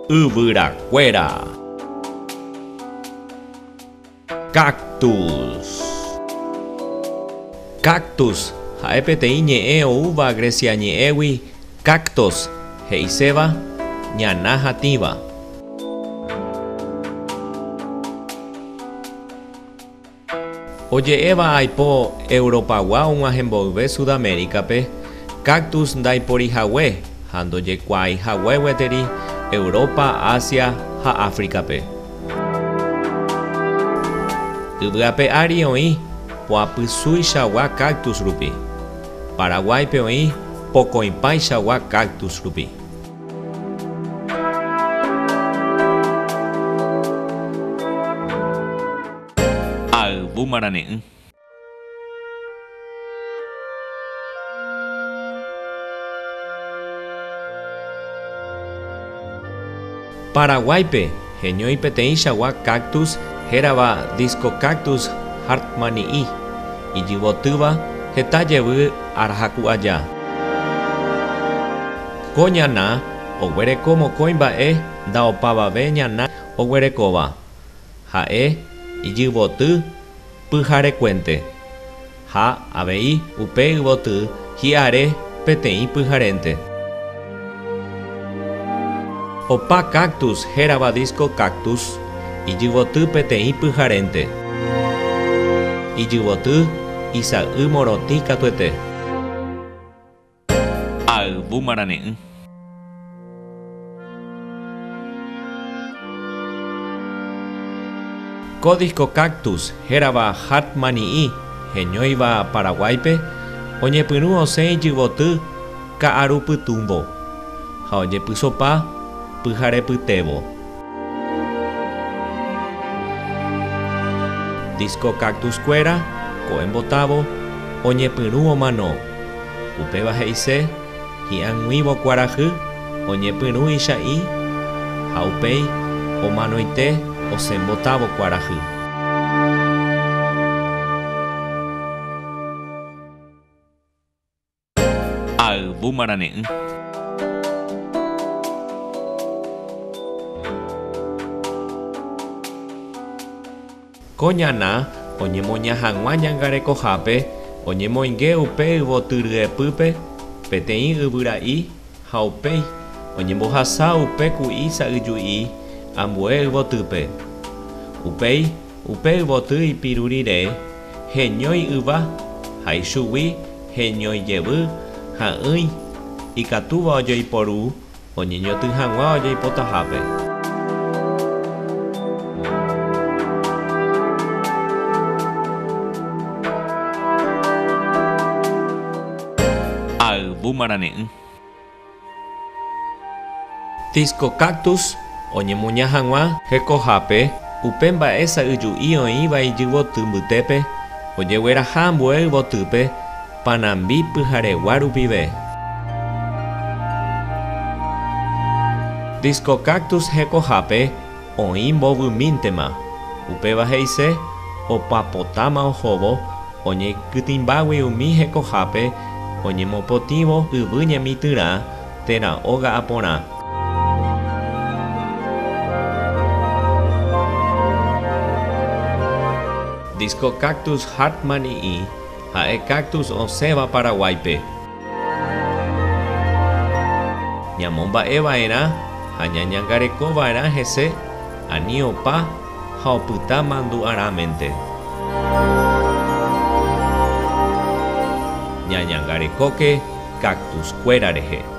Yvyrakuéra Cactus Cactus ha'e peteĩ ñe'ẽ oúva Grecia ñe'ẽgui kaktos he'iséva ñana hatĩva. Oje'éva aipo Europagua og̃uahẽ mboyve Sudaméricape, cactus ndaiporihague ha ndojekuaaihague gueteri Europa, Asia ha Áfricape. Yvyape ári oĩ poapysuichagua cactus rupi. Paraguáipe oĩ pokõipáichagua cactus rupi. Ayvu marane'ỹ. Paraguáipe heñói peteĩchagua cactus hérava Discocactus hartmanni'i, ijyvotýva heta jevy arahaku aja. Ko ñana oguereko mokõi mba'e ndaopavave ñana oguerekóva. Ha'e ijyvoty pyharekuénte, ha avei upe yvoty hi'are peteĩ pyharénte. Opa cactus hérava disco cactus ijyvoty peteĩ pyharénte. Ijyvoty isa'y morotĩ katuete. Ayvu marane'ỹ. Ko disko Cactus hérava Hatmani'i heñóiva Paraguáipe oñepyrũ osẽ ijyvoty ka'arupytũvo ha ojepysopa pyharepytévo. Disco Cactus kuéra, ko'e mbotávo, oñepyrũ omano. Upéva he'ise, hi'ag̃uívo kuarahy oñepyrũ icha'ĩ ha upéi omanoite osẽ mbotávo kuarahy. Ayvu marane'ỹ. Ko ñana oñemoña hag̃ua ñangarekohápe oñemoinge upe yvoty ryepýpe peteĩ yvyra'i ha upéi oñembohasa upe ku'i sa'yju'i ambue yvotýpe. Upéi upe yvoty ipiru rire, heñói yva, ha ichugui heñói jevy ha'ỹi, ikatúva ojoiporu oñeñotỹ hag̃ua ojaipotahápe. Ha yvy marane'ỹ. Disco Cactus oñemuña hag̃ua hekohápe upe mba'e sa'yju'i oĩva ijyvoty mbytépe ojegueraha ambue yvotýpe Panambi pyharegua rupive. Disco Cactus hekohápe. Oĩ mbovymíntema, upéva he'ise opapotáma ohóvo oñekytĩmbágui umi hekohápe oñemopotĩvo yvy ñemitỹrã térã óga aporã. Disco Cactus Hartmann ii ha'e cactus osẽva Paraguáipe. Ñamomba'e va'erã ha ñañangareko va'erã hese ani opa ha opyta mandu'arãmente. Ñañangarekóke cactus-kuéra rehe.